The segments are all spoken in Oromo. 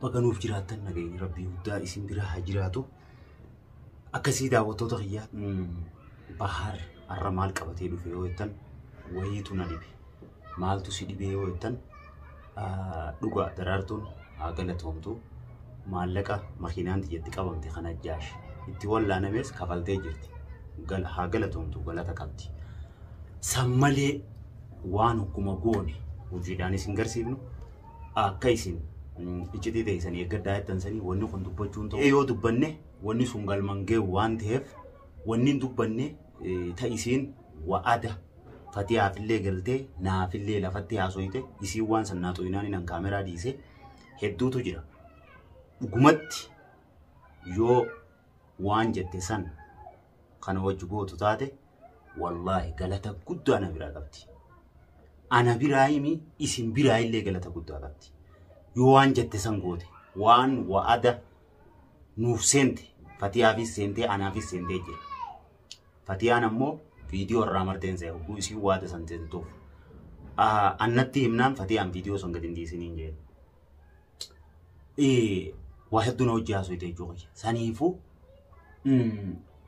Baga nuuf jiraattan nageenyi rabbii guddaa isin bira haa jiraatu. Akkasii daawwattoota kiyyaa Bahaar har'a maal qabatee dhufe yoo jettan wayiitu na dhibe. Maaltu si dhibee yoo jettan dhugaa daraartuun haa galatoomtu. Maallaqa makiinaan tiyyatti qabamte kan ajjaash itti wallaanamees kafaltee jirti. Gal- Haa galatoomtu galata qabdi. San malee waan akkuma goone hojiidhaan isin garsiifnu akka isin iccitii teessan eeggadhaa jettan sanii wanni kun dubbachuun ta'u yoo dubbanne wanni sun galman ga'u waan ta'eef wanni hin dubbanne ta'isiin wa'ada fatiyaafillee galtee naafillee lafatti haasoyte isiin waan san naa xooyinaan inan kaameraa dhiise hedduutu jira dhugumatti yoo waan jette san kana wajji gootu taate wallaahi galata guddaa na biraa qabdi. Ana biraa himi isin biraa illee galata guddaa qabdi. Yoo waan jette san goote waan wa'ada nuuf seente fatiyaafis seentee anaafis seentee jira. Fatiyaan ammoo viidiyoo irraa marteen se'a hogguu isiin waada san seentuuf. Annatti himnaan fatiyaan viidiyoo san gadi hin dhiisiniin jedhe. waa hedduu na hojii haasofte jechuu kiyya. Saniifuu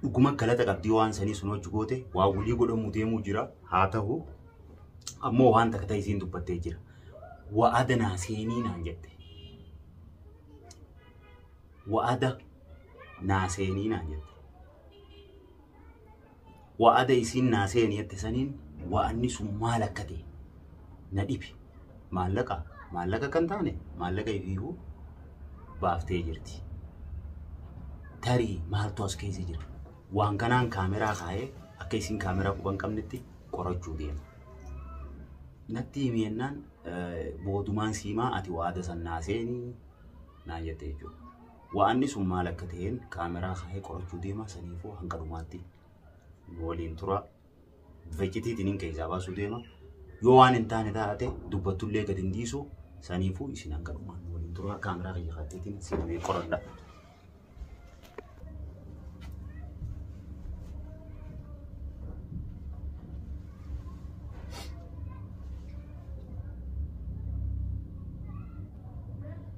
dhuguma galata qabdii waan sanii sun hojii goote waa walii godhamuu deemuu jira haa ta'u ammoo waan takka ta'e isiin dubbattee jira. Wa'ada naa seenii naan jette. Wa'ada naa seenii naan jette. wa'ada isiin naa seeni jette saniin wa'anni sun maal akka ta'e na dhibe. Maallaqa maallaqa akka hin taane maallaqa ifiifuu baaftee jirti. Tarii maaltu as keessa jira? Waan kanaan kaameraa kaa'ee akka isiin kaameraa quba hin qabnetti qorachuu deema. Natti himi jennaan eh, boodumaan siimaa ati wa'ada san naa seeni naan jette jechuudha. Wa'anni sun maal akka ta'een kaameraa kaa'ee qorachuu deema saniifuu hanga dhumaatti nu waliin tura. Vecitiitiin hin keessaa baasuu deema. Yoo waan hin taane taate dubbattullee gad hin dhiisu saniifuu isin hanga dhumaan nu waliin tura kaameraa kiyya kaatteetiin seenee qoradha.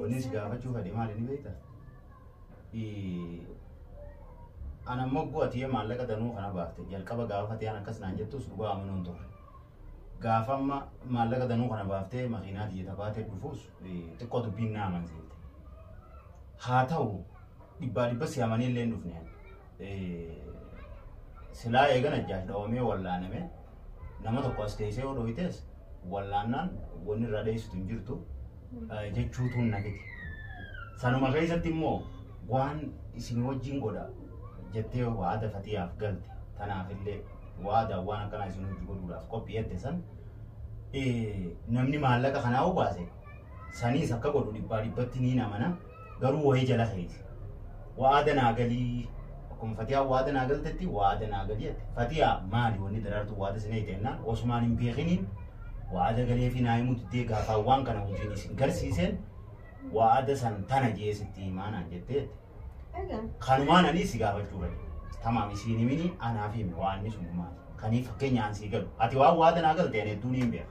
Wanni si gaafachuu fedhe maali ni beekta? Ana mogguu ati maallaqa danuu kana baafte jalqaba gaafa ta'an akkas naan jettus dhugaa amanuun ture. Gaafa amma maallaqa danuu kana baaftee makiinaa tiyya tabaatee dhufuus xiqqoo dubbiin na amansiifte. Haa ta'u dhibbaa dhibba si amanii illee hin dhufne. Silaa eegan ajjaash dhawamee wallaaname nama tokko as teessee yoo dhooytees wallaannaan wanni irraa dheessitu hin jirtu jechuutu hin nagite. Sanuma keessatti immoo waan isin wajjin godha jettee waada fatiyaaf galte tanaaf illee waada waan akkanaa isin hojii godhuudhaaf qophi'eette san namni maallaqa kanaa obaase Saniis akka godhu dhibbaa dhibbatti niin amana garuu wahii jala keeti. Wa'aada naa galii akkuma Fatiyaa wa'aada naa galtetti wa'aada naa galii jette. Fatiyaa maali wanni daraartuu wa'aada sina hite jennaan osumaan hin beekiniin wa'aada galee fi naa himuu diddee gaafaa waan kana hojiin isin garsiiseen wa'aada san tana jee sitti himaa naan jettee jette. Kanumaan ani si gaafachuu fedhe. Tamaam isiin himini anaaf himi waan inni sun maali. Kanii fakkeenyaan sii galu. Ati waan wa'aada naa galte ani hedduun hin beeka.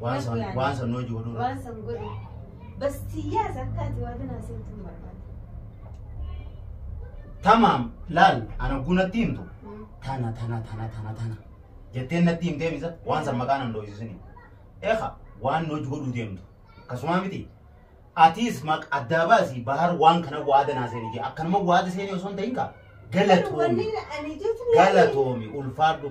Waan san waan san hojii godhuu irra. Waan san godhu. Bas tiyyaas akka ati waa kanaa seetu hin barbaadu. Tamaam laal ana oguu natti himtu tana tana tana tana tana jetteen natti himtee misa waan san maqaa nan dhoofisisini. Eefa waan hojii godhuu deemtu akkasuma miti. Atiis maq addaa baasi bahar waan kana waada naa seeni jee akkanuma waada seeni osoo hin ta'in kaa Wanni galatoomi ani jechuun. galatoomi ulfaadhu.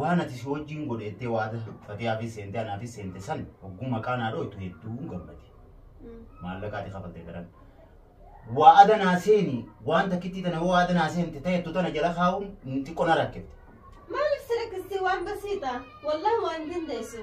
Waan ati si wajjin godhe jettee waada fatiyaafis seente anaafis seente san hogguu maqaa naa dhooytu hedduun gammade. Maallaqa ati kafalte daran. Waada naa seeni waan takkittii tana yoo waada naa seente ta'ettu tana jala kaa'uun xiqqoo na rakkifte. Maaliif si rakkistii waan basiidha? Wallahi waan dandeessu.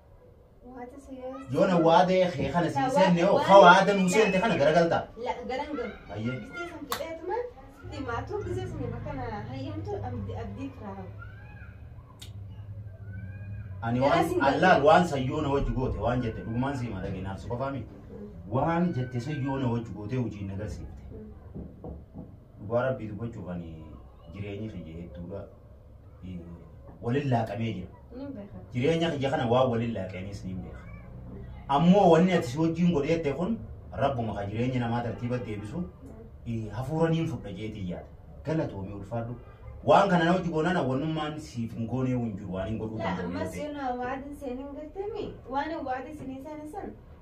Waata si yoo. Yoo na waadee kee kana si hin seenne hoo ka waada nuu seente kana garagalta. La garan garu. Hayyee. Gistee sun qixeetuma sitti maatuu gisee sun bakka na hayyamtu abdi abdii firaa. Ani Garaa waan sin galu. allaal waan sayyoo na wajji goote waan jette dhugumaan si hima dhagee naaf si qofaa miti. Waan jette sayyoo na wajji gootee hojiin na garsiifte. Dhugaa rabbii dubbachuuf ani jireenyi kiyya hedduudha. walin laaqamee jira. Ni beekan. Jireenya kiyya kana waan walin laaqeenis ni beeka. Ammoo wanni ati si wajjin godheette kun rabbuma ka jireenya namaa tartiiba deebisu eh, hafuura niin fudha jeetii yaada. Galatoomii ulfaadhu. Waan kana na wajji goonana wannummaan siif hin goonee hin jiru waan hin godhuu Laa danda'u. ammas yoo na waadin seenin gattemi waan waadin sinii seenin san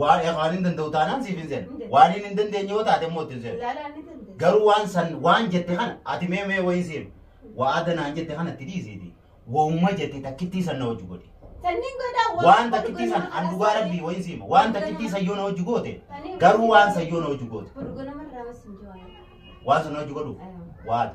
Waan waan hin danda'u taanaan siif hin seenu. Waan hin hin dandeenye yoo taate immoo itti hin seenu. Laalaan ni dandeenya. Garuu waan san waan jette kana ati mee mee wayii seenu. Waada naan jette kana itti dhiisiiti. Wauma jette takkittii san na hojii godhi. Sanniin godhaa waan Waan takkittii san an dhugaa rabbii wayii siima. Waan takkittii san yoo na hojii goote garuu waan san yoo na hojii goote. Burgo namarraa mas hin jiru. waan sana hojii godhu Aywa. waada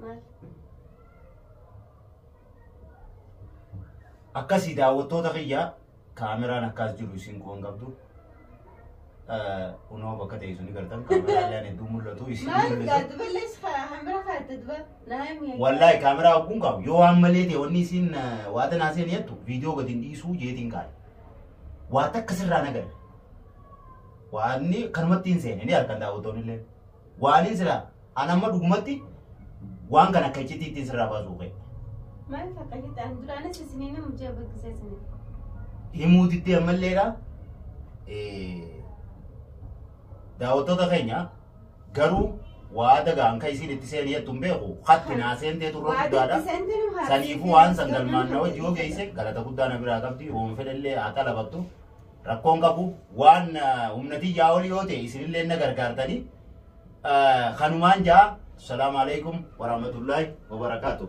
Maal? akkasii daawwattoota kiyya kaameraan akkas jiru isin quban qabdu kunoo bakka teessu ni gartan kaameraan illee hedduu mul'atu isin Maal? mul'atu Gaaddi ballees hambira kaa'atte duba. Naa himi. wallahi kaameraa hogguun qabu yoo waan malee ta'e wanni isin waa tanaa seen jettu viidiyoo gadi hin dhiisuu jeetiin kaa'e waa takka sirraa nagadha waanni kanumatti hin seene ni arkan daawwattoonni illee Waaliin sila an amma dhugumatti waan kan akka iccitii ittiin sirraa baasuu ka'e. Maal fakka hidhaan duraanis isinii nama hojii abbaggisee isinii. Himuu diddee ammalleedha. Daawwattoota keenya garuu waa dagaan kan isiin itti seenee jettu hin beeku. Hatti naa seentee turre guddaadha. Saniifuu waan san galmaan na hojii yoo geesse galata guddaa na biraa qabdi. Oomfedhallee haa xalabattu. rakkoon qabu waan humna tiyyaa olii yoo ta'e isinillee na gargaartanii kanumaan jaa salaamu alaikum warahmatullaahi wabarakaatu.